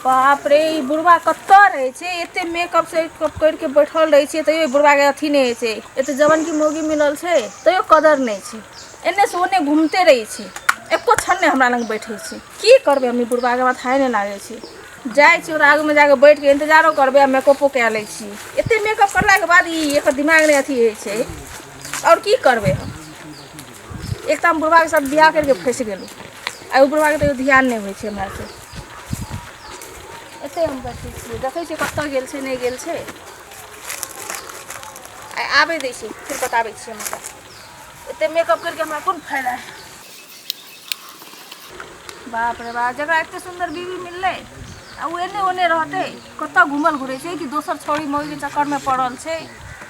बाप रे ई बुढ़वा कतऽ रहै छै एते मेकअप से करि के बैठल रहै छै तैयो बुढ़वा के अथी नहि होइ छै एते जवन की मोगी मिलल छै तैयो कदर नहि छै एने से ओने घूमते रहै छै एको क्षण नहि हमरा लग बैठे छै की करबै हम ई बुढ़वा के माथा नहि लागै छै जाइ छी ओकरा आगूमे जाके बैठ के इंतजारो करबै आ मेकअपो कए लै छी एते मेकअप करलाके बाद ई एकर दिमाग नहि अथी होइ छै आओर की करबै हम एक तऽ हम बुढ़बाके साथ बियाह करिके फँसि गेलहुँ आ ओ बुढ़बाके तैयो ध्यान नहि होइ छै हमरा से एते हम बैठे छियै देखै छियै कतऽ गेल छै नहि गेल छै आइ आबै दै छै फेर बताबै छियै हम ओकरा एते मेकअप करिके हमरा कोन फायदा है बाप रे बाप जकरा एते सुन्दर बीवी मिललै आ ओ एने ओने रहतै कतऽ घूमल घुरै छै कि दोसर छौड़ी मौगी चक्करमे पड़ल छै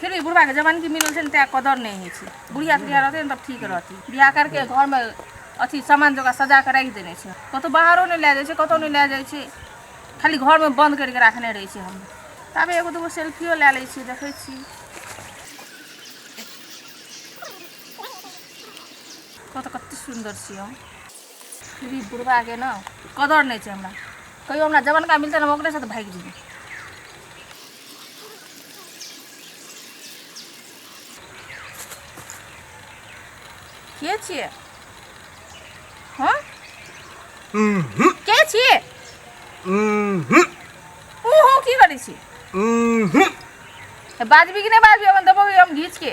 फिर भी बुढ़वा के जवान की मिलल छन ते कदर नहीं है छी बुढ़िया बुढ़िया रहते तब ठीक रहती बियाह करके घर में अथी सामान जगह सजा के रख देने छे कतो बाहरो नहीं ले जाए छे कतो नहीं ले जाए छे खाली घर में बंद करके रखने रहे छे हम तब एगो दूगो सेल्फियो ले ले छी देखे छी कत कत सुंदर छी हम श्री बुढ़बाके ने कदर नहि छै हमरा कहियो हमरा जवनका मिलतै ने हम ओकरे साथ भागि जेबै के छियै हँ के छियै ओ हो की करै छी बाजबी कि नहि बाजबी अपन देबो हम घीचके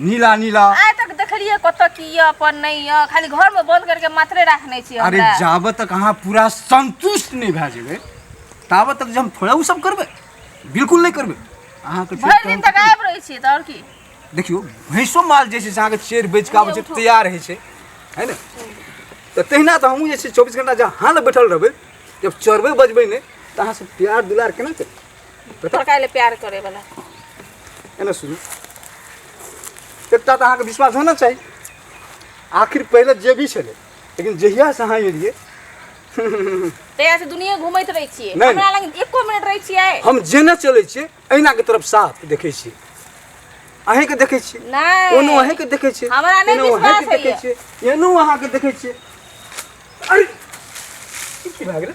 नीला नीला आइ तक देखलियै कतऽ की यऽ अपन नहि यऽ खाली घर में बंद करके मात्रे रखने छी अरे जाब तक अहाँ पूरा संतुष्ट नहीं भए जेबै ताब तक जे हम थोड़ा ओ सब करबै बिल्कुल नहीं करबै अहाँके भरि दिन तक आबि रहै छियै तऽ आओर की देखियो भैंसो माल जे छै से अहाँके चेर बेच के आबै छै तैयार होइ छै है ने तऽ तहिना तऽ हमहूँ जे छै चौबीस घंटा जहाँ लग बैठल रहबै जब चरबै बजबै नहि तऽ अहाँसँ प्यार दुलार केना करबै तोरा काहे ले प्यार करे वाला एने सुनू एकटा तऽ अहाँके विश्वास होना चाही आखिर पहिले जे भी छलै लेकिन जहिया से अहाँ एलियै तहिया से दुनिया घूमैत रहै छियै नहि, हमरा लग एको मिनट रहै छियै हम जेने चलै छियै अहिनाके तरफ साफ देखै छियै अहींके देखै छियै नहि ओनो अहींके देखै छियै हमरा नहि एनो विश्वास अहींके देखै होइए। छियै एनो अहाँके देखै छियै अरे ई की भए गेलै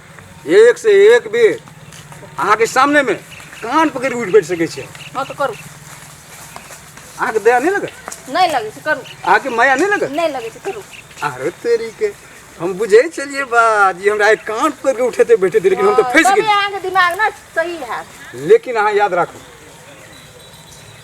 एक से एक बेर अहाँके सामने में कान पकड़ उठ बैठ सके छे हाँ तो करू अहाँके दया नहीं लगे नहीं लगे से करू अहाँके माया नहीं लगे नहीं लगे से करू अरे तेरी के हम बुझे चलिए बात ये हमरा एक कान पकड़ के उठे थे बैठे थे लेकिन हम तो फंस गए अहाँके दिमाग ना सही है लेकिन अहाँ याद राखू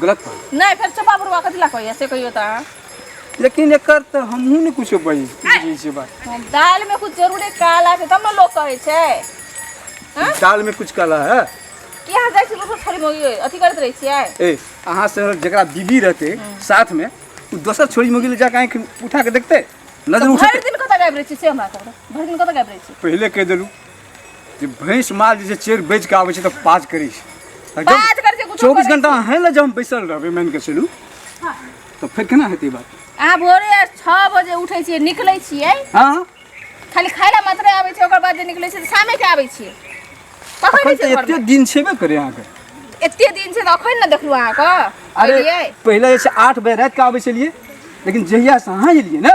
गलत बात नहीं फिर चुपा बुरवा कथी ला कहिए से कहियो ता लेकिन एकर तो हमहू ने कुछ बज बुझै छै बात हम दाल में कुछ जरूरे काला के तब ना लोग कहे छे हाँ? दाल में कुछ काला है कि यहाँ जाए छी बस थोड़ी मोगी अथी करत रहे छिए ए अहाँ से जकरा बीबी रहते साथ में उ दोसर छोरी मोगी ले जाके आँखि उठा के देखते नजर तो भर उठते दिन कत गायब रहे छी से हमरा कहू भर दिन कत गायब रहे छी पहिले कह देलू जे भैंस माल जे छै चेर बेच के आबै छै तऽ पाज करै छै तऽ जब बात करके कुछ चौबीस घंटा अहें लए जब हम बैसल रहबै मान के चलू तऽ फेर केना हेतै बात अहाँ भोरे छओ बजे उठै छियै निकलै छियै हँ खाली खाय लए मात्रे आबै छियै ओकर बाद जे निकलै छियै तऽ शामे के आबै छियै कखन अखन रहै तऽ छियै एते घरमे दिन छेबे करे अहाँके एते दिन छै तऽ अखन ने देखलू अहाँके अरे अरे पहिले जे छै आठ बजे राति के आबै छलियै लेकिन जहिया से अहाँ एलियै ने